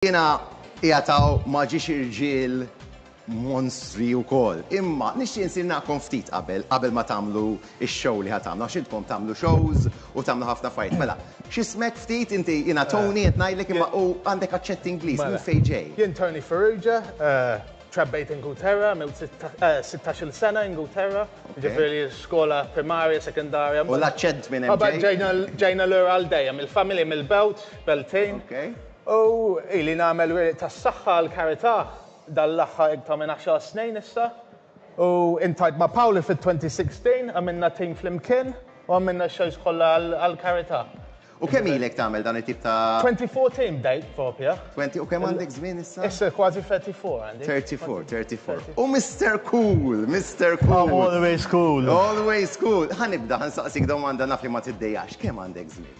Jiena qiegħed hawn ma' ġiex irġiel monstri wkoll, imma nixtieq insinnakom ftit qabel, qabel ma tagħmlu x-show li ħa tagħmlu, għax intkom tagħmlu shows u tagħmlu ħafna affarijiet. Mela, x'ismek ftit inti? Jiena Tony qed ngħidlek imma u għandek aċċett Ingliż, minn fejn ġej? Jien Tony Farrugia, trabbejt Ingulterra, għamilt sittax-il sena Ingulterra, jiġifieri skola primarja, sekondarja, mbagħad. U l-aċċent minn hemm ġej? Mbagħad ġejna lura għal dejjem, il-familja mill-Belt, Beltane. U ili nagħmel wiriq tas-saħħa għall-karità dan l-aħħar iktar minn għaxar snin issa. U intajt ma' Pauli fit-2016, għamilna tim flimkien u għamilna x-shows kollha għall-karità. U kemm ilek tagħmel dan it-tip ta'. 2014 bdejt proprja. Twenty, u kemm għandek żmien issa? Issa kważi 34 għandi. Thirty four, thirty four. U Mister Cool, Mister Cool. I'm always cool. Always cool. Ħa nibda, ħa nsaqsik domanda naf li ma tiddejjaqx, kemm għandek żmien?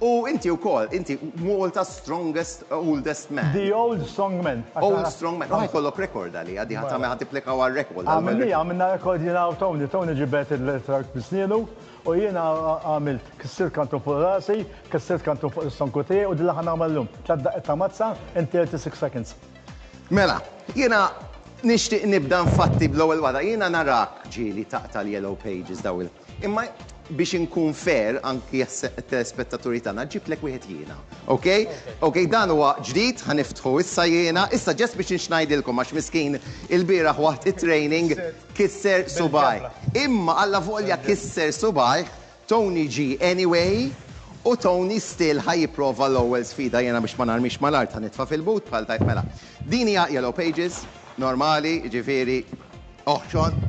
U inti wkoll, inti Malta's strongest oldest man. The old strong man. Old strong man. U ħajkollok record għaliha, di ħa tagħmel ħa tipplika għal record. Għamilniha, għamilna record jiena u Tony. Tony ġibed il-truck bi snienu u jiena għamilt, kissirt kantun fuq rasi, kissirt kantun fuq is-sonku tiegħi u din li ħa nagħmel illum. Tliet daqqiet ta' mazza in 36 seconds. Mela, jiena nixtieq nibda nfatti bl-ewwel waħda. Jiena narak ġieli taqta' l-yellow pages dawn il. Imma biex inkun fair anki għat-telespettaturi tagħna, ġibtlek wieħed jiena. Okej? Okej, dan huwa ġdid, ħa niftħu issa jiena. Issa ġest biex nxngħidilkom għax miskien ilbieraħ waħt it-training kisser subgħi. Imma allavolja kisser subgħih, Tony ġie anyway u Tony still ħa jipprova l-ewwel sfida. Jiena biex ma narmix mal-art ħa nitfa' fil-but bħal tajb mela. Din hija Yellow Pages normali, jiġifieri oħxon.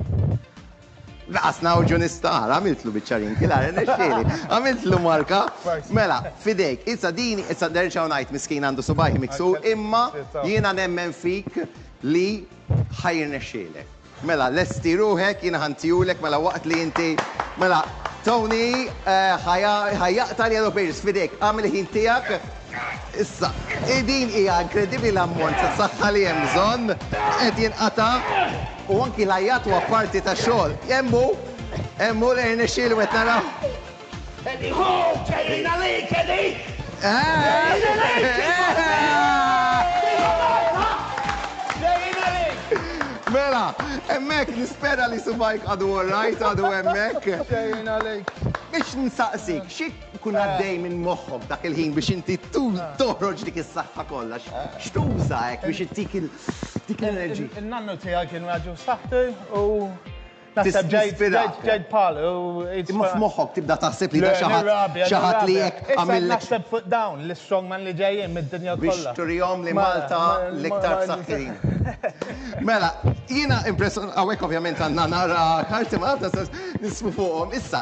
Naqas ngħawġu nistgħar, għamiltlu biċċa wrinkle, ara rnexxieli, għamiltlu marka. Mela, f'idejk, issa din, issa nerġgħu ngħid miskin għandu subgħajh miksur, imma jiena nemmen fik li ħa jirnexxielek. Mela, lesti ruħek, jiena ħa ntihulek mela waqt li inti, mela Tony ħa jaqta' l-yellow pages, f'idejk, agħmel il-ħin tiegħek. Issa, din hija inkredibbli l-ammont ta' saħħa li hemm bżonn, qed jinqata' u anki l-għajjat huwa parti tax-xogħol. Hemm hu, hemm hu li rnexxielu qed naraw. Eddie hu, ġejjin għalik, Eddie! Ġejjin għalik! Ġejjin għalik! Mela, hemmhekk nispera li subgħajk għadu all right, għadu hemmhekk. Ġejjin għalik! Biex nsaqsik, xi. Ikun għaddej minn moħħok dak il-ħin biex inti toħroġ dik is-saħħa kollha. X'tuża hekk biex ittik dik l-enerġija? In-nannu tiegħi kien raġel saħħtu u naħseb ġejt bħal. Imma f'moħħok tibda taħseb li da xi ħadd xi ħadd li hekk għamillek. Naħseb fuq dawn l-istrongman li ġejjin mid-dinja kollha. Biex turihom li Malta l-iktar b'saħħitha. Mela, jiena impressjonat hawnhekk ovvjament għandna nara karti Malta nismu fuqhom. Issa,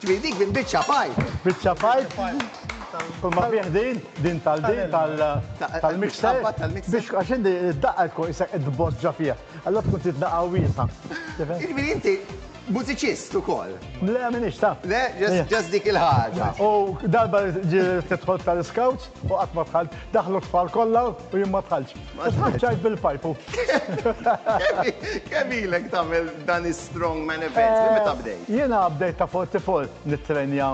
Ġifieri dik minn biċċa pipe. Biċċa pipe kull ma fih din, din tal din tal tal-mixer biex għax inti d-daqqa tkun qisek qed tboġġa fiha. Allura tkun trid daqqa wiesgħa. Jiġifieri inti Mużiċist ukoll. Le m'iniex taf. Le? Just dik il-ħaġa. U darba ġiet tidħol tal-iskawts u qatt ma dħalt. Daħlu t-tfal kollha u jien ma dħaltx. U tħaċċajt bil-pajpu. Kemm ilek tagħmel dan is-strongman event? Minn meta bdejt? Jiena bdejt ta' 44 nittrenja.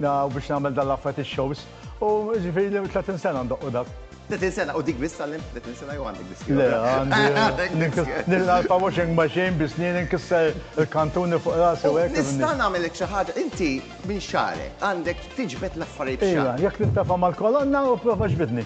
Na, u biex nagħmel dan l-affarijiet ix-shows. U ġifieri li 30 sena ndoqqu dak. 30 sena u dik biss tgħallimt 30 sena jew għandek biss? Le, għandi. Nilqa' l-washing machine bi snieni nkisser il-kantuni fuq rasi u hekk. Nista' nagħmellek xi ħaġa, inti minn xagħrek għandek tiġbed l-affarijiet f'xagħrek. Iva, jekk tintefa' mal-kolonna u prova ġbidni.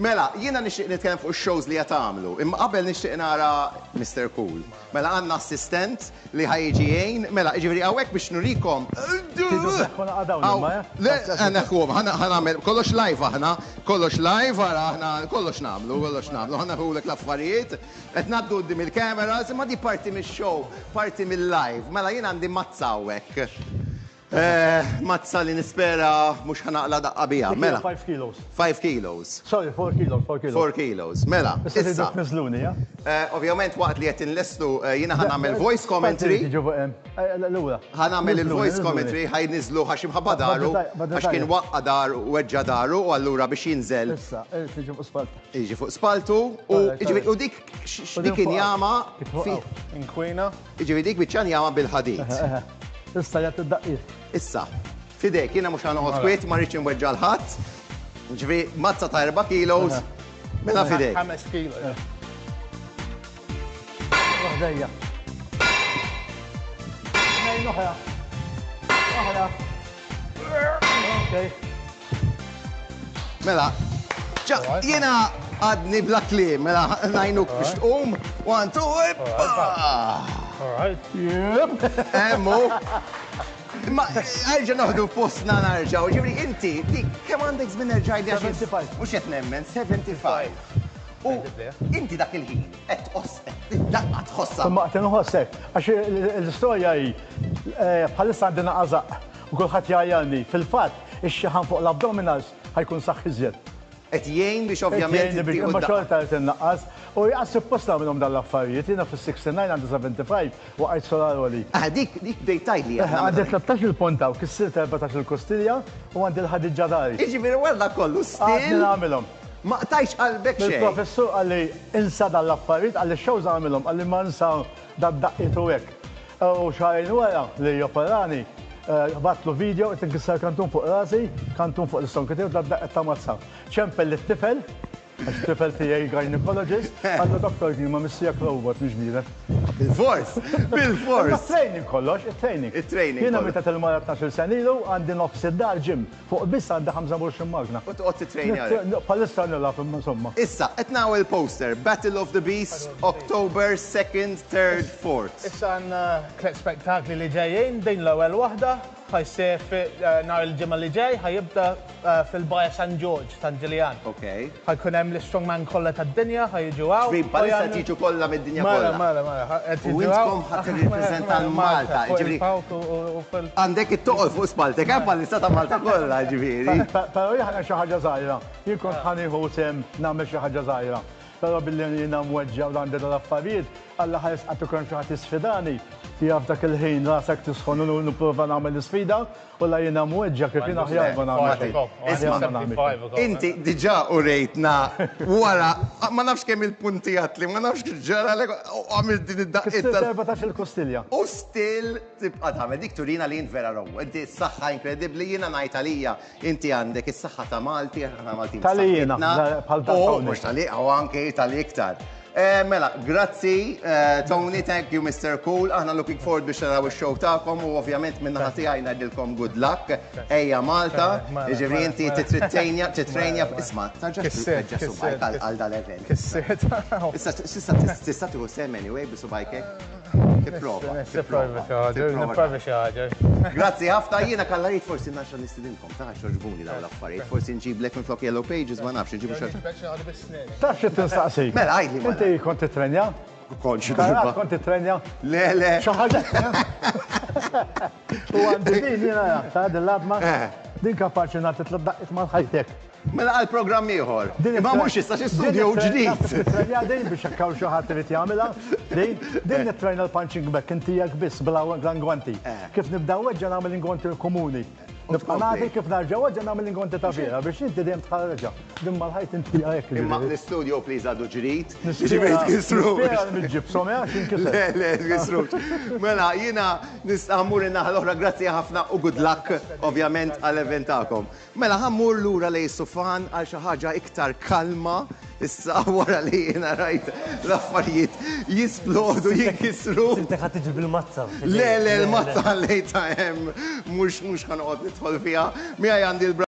Mela, jiena nixtieq nitkellem fuq ix-shows li qed tagħmlu, imma qabel nixtieq nara Mister Cool. Mela għandna assistent li ħa jiġi jgħin, mela, jiġifieri hawnhekk biex nurikom. Tridu sseħħu laqgħa dawn imma, eh? Le, ħa neħħuhom, ħa nagħmel kollox live aħna, kollox live, ara aħna kollox nagħmlu, kollox nagħmlu, ħa neħħulek l-affarijiet, qed ngħaddu quddiem il-cameras, imma din parti mix-show, parti mil-live. Mela jien għandi mazza hawnhekk. Eh, mazza li nispera mhux ħa naqla' daqqa biha. Mela. Five kilos. Five kilos. Sorry, four kilos, four kilos. Four kilos. Mela. Issa tridu tniżżluni, ja? Eh, ovvjament waqt li qed inlestu eh, jiena ħa nagħmel voice commentary. Eh, lura. Ħa nagħmel il-voice commentary ħaj niżlu ħax imħabba daru għax kien waqqa dar u weġġa daru u allura biex jinżel. Issa, tiġi fuq spaltu. Iġi fuq spaltu u dik dik injama. Inkwina. Jiġifieri dik biċċa njama bil-ħadid. Eħe, eħe. Issa jgħid id-daqqiet. Issa, f'idejk, jiena mhux ħa noqgħod kwiet, ma rridx inweġġa' 'l ħadd. Jiġifieri mazza ta' erba' kilos, mela f'idejk. Ħames kilos, eħe. Fuq ħdejja. Tnejn oħra. Oħra. Okej. Mela, jiena għadni bla kliem, mela ngħinuk biex tqum, one, two, ippa! Emmu. Ma għalġa noħdu postna narġaw, ġivri inti, dik, kem għandek zmin erġajdi għax. 75. Mux jett nemmen, 75. U inti dak il-ħin, għet tqoss, għet daqqa tħossa. Ma għet nħossek, għax l-istoria hi, bħalissa għandina għazaq. U kulħadd jgħajjarni. Fil-fatt, ix-xaħam fuq l-abdominals ħa jkun saħħ iżjed. Qed jgħin biex ovvjament ittieħu d-daqqa. Imma xorta qed innaqqas. U qas suppost nagħmilhom dawn l-affarijiet. Jiena fis-69 għandi 75 waqajt solar għoli. Aha, dik, dik bdejt tgħidli aħna. Aha, għandi tlettax-il punt hawn, kissirt erbatax-il kustilja u għandi l-ħadid ġa dari. Jiġifieri wara dak kollu still. Għadni nagħmilhom. Ma qtajtx qalbek xejn. Il-professur qalli insa dawn l-affarijiet, qalli x-shows agħmilhom, qalli ma nsa dad-daqqiet u hekk. U xahrejn wara li operani, battlu video qed inkisser kantun fuq rasi, kantun fuq l-istonki tiegħu bla daqqa ta' mazza. Ċempel lit-tifel, għax it-tifel tiegħi gynaecologist, qallu Doktor jien ma missijek robot mhix bniedem. Bilfors! Bilfors! Imma t-training kollox, it-training. It-training kollox. Jiena mietet il-mara tnax-il sena ilu, għandi nofs id-dar gym. Fuq biss għandi 25 magna. U toqgħod tittrejnja għalihom. Bħalissa nilgħab imma insomma. Issa, qed nara il-poster, Battle of the Beasts, October 2nd, 3rd, 4th. Issa għandna tliet spettakli li ġejjin, din l-ewwel waħda ħa ssir nhar il-Ġimgħa li ġej, ħa jibda fil-Baja San Ġorġ, San Ġiljan. Okej. Ħa jkun hemm l-istrongman kollha tad-dinja ħa jiġu hawn. Ġifieri bħalissa qed jiġu kollha mid-dinja kollha. Mela, mela, mela, ħa qed jiġu hawn. U intkom ħa tirrippreżenta l-Malta, jiġifieri. Għandek it-toqol fuq spalltek, hemm bħalissa ta' Malta kollha, jiġifieri. Però jien ħa nagħmel xi ħaġa żgħira. Jien kont ħa nieħu sehem nagħmel xi ħaġa żgħira. Però billi jiena mweġġa' u għandi dal-affarijiet, Alla ħa jisqaq kieku hemm xi ħadd jisfidani, jaf dak il-ħin rasek tisħon u nipprova nagħmel l-isfida, Kollha jiena mweġġa' kif jien aħjar ma nagħmel xejn. Aħjar ma nagħmel xejn. Inti diġà urejtna wara ma nafx kemm-il punti għatli, ma nafx x'ġaralek u għamilt din id-daqqiet tal-. Kissirt erbatax il-kostilja. U still tibqa' tagħmel. Dik turina li int vera row. Inti s-saħħa inkredibbli, jiena ngħid għalija inti għandek is-saħħa ta' Malti, aħna Maltin b'saħħitna. Tali jiena, bħal dawk hawnhekk. U mhux tali, u anki tali iktar. Mela, grazzi Tony, thank you Mister Cool, aħna looking forward biex naraw ix-show tagħkom u ovvjament minn naħa tiegħi ngħidilkom good luck, ejja Malta, jiġifieri inti titrittejnja, titrejnja, isma' tarġax titkeġġeż subgħajk għal dal-event. Issa tista' tista' tieħu sehem anyway bi subgħajk hekk? Tipprova. Nipprova xi ħaġa. Grazzi ħafna, jiena Kalla Reid forsi nerġa' nistidinkom, tarax jogħġbuni dawn l-affarijiet, forsi nġiblek minflok Yellow Pages ma nafx, inġibu xi ħaġa. Taf xi tinsaqsik? Mela, għidli, malajr. Inti kont tittrenja? Kont xi darba. Karate kont tittrenja? Le, le. Xi ħaġa U għandi din jiena nagħtha din l-għadma, din kapaċi nagħti tliet daqqiet mal ħajtek. Mela għal programm ieħor. Imma mhux issa xi studju ġdid. Taf kif tittrenja din biex jekk hawn xi ħadd irid jagħmilha? Din? Din nittrejna l-punching bag inti jekk biss bla l-ingwanti. Kif nibda nweġġa' nagħmel l-ingwanti l-komuni. Nibqa' nagħti kif narġa' waġġa' nagħmel l-inkwantità vera biex inti dejjem tħarġha. Din mal-ħajt inti fiha hekk. Imma l-istudio please għadu ġrid. Jiġifieri tkissrux. Nispera li miġġibshom, eh, għax jinkisru. Le, le, tkissrux. Mela, jiena nista' mmur in-naħa l-oħra, grazzi ħafna u good luck, ovvjament, għall-event tagħkom. Mela, ħa mmur lura lejn is-sufan għal xi ħaġa iktar kalma. Issa wara li jiena rajt l-affarijiet jisplodu, jinkisru. Siltek ħa tiġi bil-mazza. Le, le, l-mazza ħallejtha hemm, mhux mhux ħa noqgħod nidħol fiha. Miegħi għandi l-.